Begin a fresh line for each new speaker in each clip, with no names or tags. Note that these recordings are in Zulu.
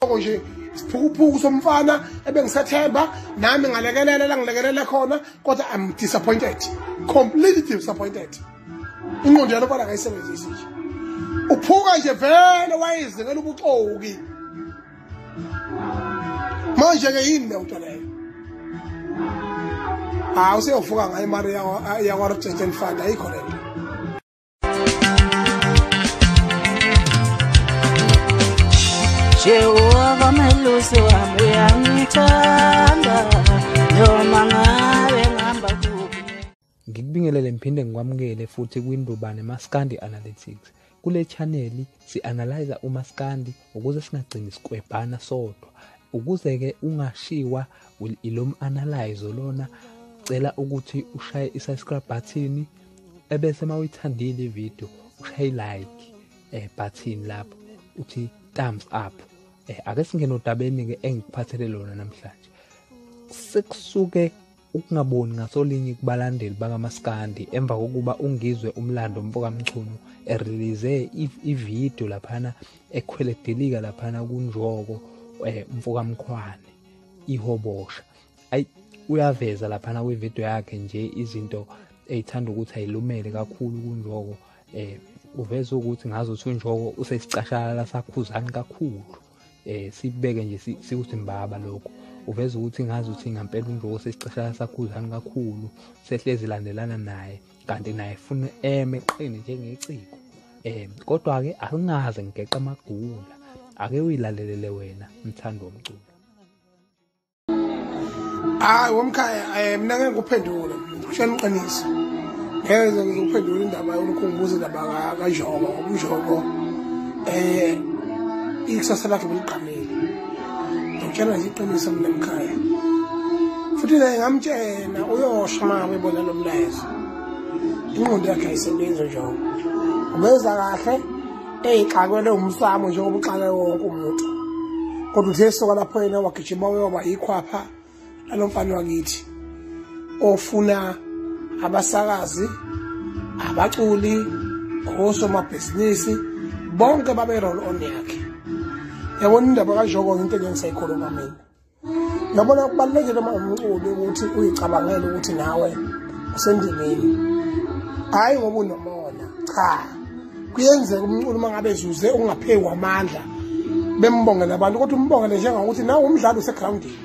lokho nje isiphukuphuku somfana ebengisathemba nami ngalekelela la ngilekelela khona kodwa i'm disappointed completely disappointed inqondo yalo bana kayisebenzisi nje uphuka nje vele wayezingela ubuxoki manje-ke yini le nto leyo hawu seyovuka ngayo imali yakwa-rejection fund ayikho le nto
Jehova melusi wami uyangithanda noma ngabe ngihamba kuphi Ngikubingelele
ngiphinde ngikwamukele futhi kwiNdubane Maskandi Analytics. Kule channel si-analyze umaskandi ukuze singagcini sikwebhana sodwa ukuze-ke ungashiwa ilo m-analyzo lona cela ukuthi ushaye i-subscribe button ebese uma uyithandile ividiyo ushaye i-like eh, button lapho uthi thumbs up eh, ake singene odabeni-ke engikuphathele lona namhlanje sekusuke Ukungaboni ngasolinye kubalandeli bakamaskandi emva kokuba ungizwe umlando mfokamchunu erelease ividiyo laphana ekhweledelika laphana kunjoko eh, mfokamkhwane ihobosha ayi uyaveza laphana kwividiyo yakhe nje izinto eyithanda ukuthi ayilumele kakhulu kunjoko eh uveza ukuthi ngazo thunjoko usesicashalala sakhuzani kakhulu eh sibeke nje sikusimbaba lokho uveza ukuthi ngazi ukuthi ngampela uNjoko sesiceshana sakhuzani kakhulu sehlezi landelana naye kanti naye funa eme qini njengeciko eh kodwa ke akungaze ngigeqa amagula ake uyilalelele wena mthando womculo
hayi womkhaya um eh, mna ngeke ngikuphendule shana iqiniso ngeke ngizokuphendula indaba yomkhumbuza indaba kanjoko umjoko um eh, ikusasa lakhe beligqamile ngitshela nje iqiniso mina mkhaya futhi naye ngamtshena uyosho uma ebona lo mlayezo ingqondo yakhe ayisebenzi njoko ubeza kahle eyixakwele umsamo njengoba uxake wonke umuntu kodwa uthe soka lapho yena wagijima wayoba yikhwapha lalo mfana wakithi ofuna abasakazi abaculi osomabhizinisi bonke babe-roll on yakhe yabona indaba kanjoko into engengisayikhuluma mina Ngabona kubalulekile uma umculi ukuthi uyicabangele ukuthi nawe usendimeni. Hayi ngoba unomona. Cha. Kuyenzeka umculi uma ngabe ezuze ungapheki kwamandla bembongela abantu kodwa umbongele njengokuthi nawe umdlali usegroundini.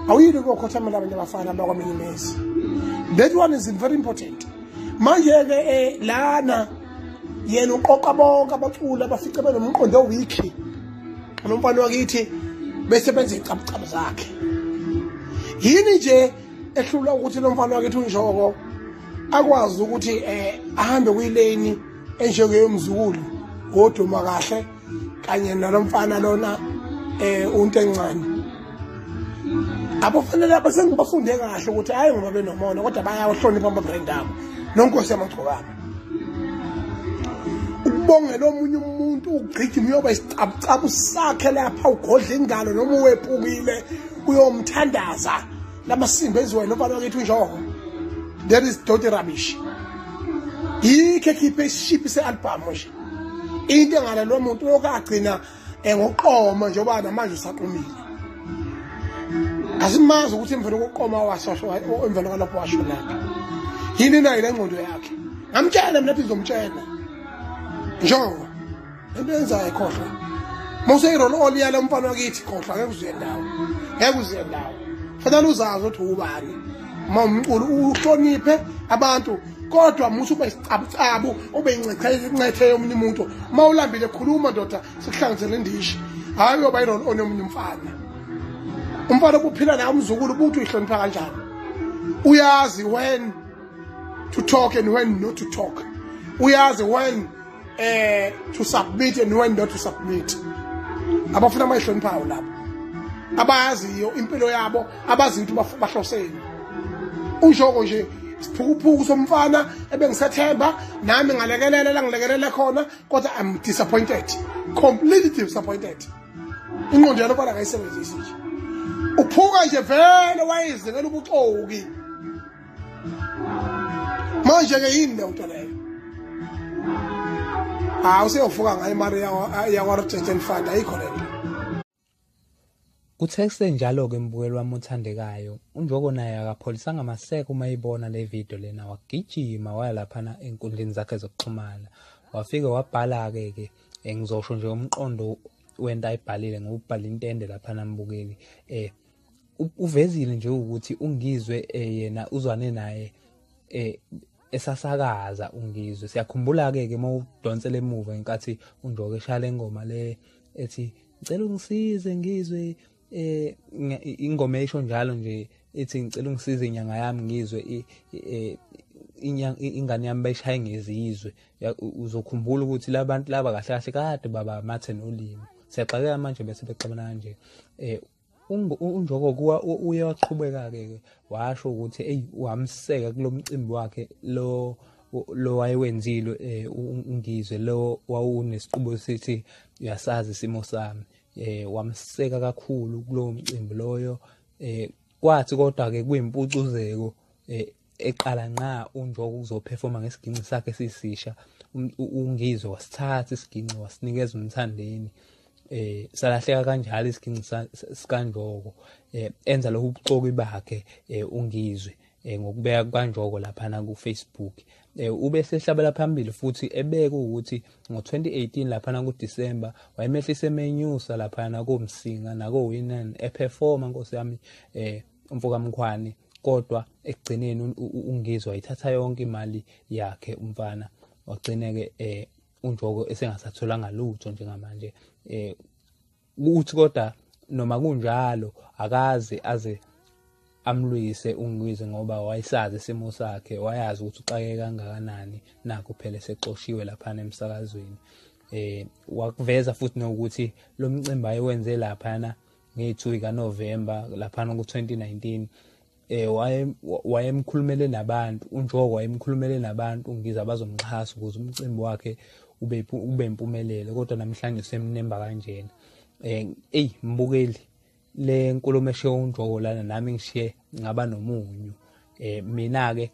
Awuyili kokhothamela abantu abafana bakwaMinimesi. That one is very important. Manje ke eh, lana yena uqoqa bonke abaculi abafice benomqondo owikhi nomfana wakithi bese benza icabucabu zakhe yini nje ehlula ukuthi lo mfana wakithi unjoko akwazi ukuthi um ahambe kwileni enjengeyomzukulu ngoduma kahle kanye nalomfana lona eh unto encane abafanele abasengibafunde kahle ukuthi hayi ngoba benomona kodwa bayawahlonipha ama-brand abo nonkosi yamagcokana ukubongela omunye umuntu ugqigima uyoba isicabucabu sakhe lapha ugodla ingalo noma uwepukile uyomthandaza lamasimba eziwayo nobani wakithi unjoko that is doti rubbish yikho ekhiphe isishiphi se-albhamu nje into engale lo muntu lokhu agcina engoqoma njengoba namanje usaqomile asimazi ukuthi emveni kokuqoma wasosho emveni kwalapho washo lapho yini nayo le ngqondo yakhe ngamtshela mina phi ngizomtshela njengoba into yenzayo khohlwa uma useyirolo oliyala umfana wakithi khohlwa ngeke uzuye ndawo ngeke uzuye ndawo fanele uzazi ukuthi ubani uma umculo uhloniphe abantu kodwa musa ube isicabucabu ube incethe yomunye umuntu uma ulambile khuluma ndoda sikuhlangizele indishi hhayi uyoba yirol onomunye umfana umfana obuphila naye umzukulu ubuthi uyihlonipha kanjani uyazi when to talk and when not to talk uyazi when eh to submit and when not to submit abafuna amayihloniphayo lapho abayaziyo impilo yabo abazi ukuthi bahloseni ushoko nje siphukuphuku somfana ebengisethemba nami ngalekelela la ngilekelela khona kodwa i'm disappointed completely disappointed inqondo yalo bala kayisebenzisi nje uphuka nje vele wayezekela ubuxoki manje-ke yini le nto leyo hawu useyovuka ngayo imali yakwarjeten fund ayikho le nto
Kuthe kusenjalo-ke mbukeli wami othandekayo, uNjoko naye akapholisanga maseko uma eyibona le video lena wagijima waya laphana enkundleni zakhe zokuxhumana. Wafike wabhala-ke-ke eh, ngizosho nje umqondo wento ayibhalile ngoba ubhale intende laphana mbukeli um uvezile nje ukuthi ungizwe eh, yena uzwane naye eh esasakaza ungizwe siyakhumbula ke ke mawudonsela emuva ngenkathi undoke eshala ingoma le ethi ngicela ungisize ngizwe eh ingoma esho njalo nje ethi ngicela ungisize inyanga yami ngizwe eh, ingane yami bayishaye ngezizwe uzokhumbula ukuthi labantu laba kahle kahle kade baba mathe nolimi siyaxakeka manje bese bexabana kanje eh unjoko kuwa uye waqhubeka-ke ke washo ukuthi eyi wamseka kulo mcimbi wakhe lo lo wayewenzile um ungizwe lo wawunesiqubo sithi uyasazi isimo sami um wamseka kakhulu kulowo mcimbi loyo um kwathi kodwa-ke kuyimpucuzeko um eqala nqa unjoko ukuzophefoma ngesiginci sakhe sisisha um, ungizwe wasithatha isiginci wasinikeza umthandeni eh salahleka kanjalo isiginci sikanjoko eh enza lokhu ubuxoki bakhe eh ungizwe eh ngokubeka kanjoko lapha na ku Facebook eh ube sehlabela phambili futhi ebeke ukuthi ngo-2018 laphana kuDisemba wayemehlise emenyusa laphana komsinga nako-winan ephefoma nkosi yami eh umfokamkhwane kodwa ekugcineni ungizwa ithatha yonke imali yakhe umfana wagcineke eh unjoko esengasatholanga lutho njengamanje eh ukuthi kodwa noma kunjalo akaze aze amlwise ungilwise ngoba wayesazi isimo sakhe wayazi ukuthi uxake kangakanani nakho phela sexoshiwe lapha emsakazweni eh wakuveza futhi nokuthi lo mcimbi ayewenze laphana nge-2 ikaNovemba laphana ku-2019 eh wayemkhulumele nabantu unjoko wayemkhulumele nabantu ngiza bazomxhasa ukuze umcimbi wakhe ube ube impumelelo kodwa namhlanje semnemba kanjena eh ey mbukeli le nkulumo eshiye unjoko lana nami ngishiye ngaba nomunyu eh mina ke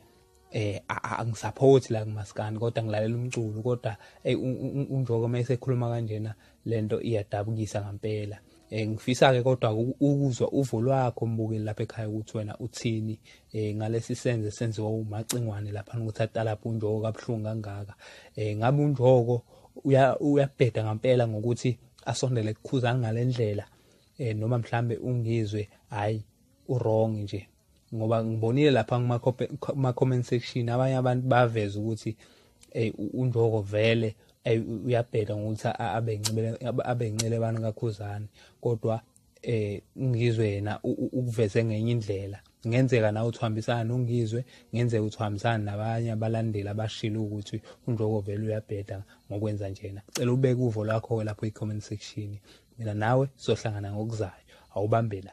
eh angisaphothi la kumaskani kodwa ngilalela umculo kodwa ey unjoko uma esekhuluma kanjena lento iyadabukisa ngempela eh ngifisa ke kodwa ukuzwa uvo lwakho mbukeli lapha ekhaya ukuthi wena uthini eh ngalesi senze senziwa umacingwane lapha ukuthi atalapha unjoko kabuhlungu kangaka eh ngabe unjoko uyabheda ngempela ngokuthi asondele kukhuzana ngalendlela eh noma mhlambe ungizwe hayi uwrong nje ngoba ngibonile lapha kuma comment section abanye abantu baveza ukuthi ey unjoko vele ey uyabheda ngokuthi abencibele abencele abantu kakhuzane kodwa eh ngizwe yena ukuveze ngenye indlela ngenzeka nawe uthambisana nongizwe ngenzeka uthambisana nabanye abalandeli abashilo ukuthi unjoko vele uyabheda ngokwenza njena cela ubeke uvo lakho lapho i comment section mina nawe sohlangana ngokuzayo awubambe la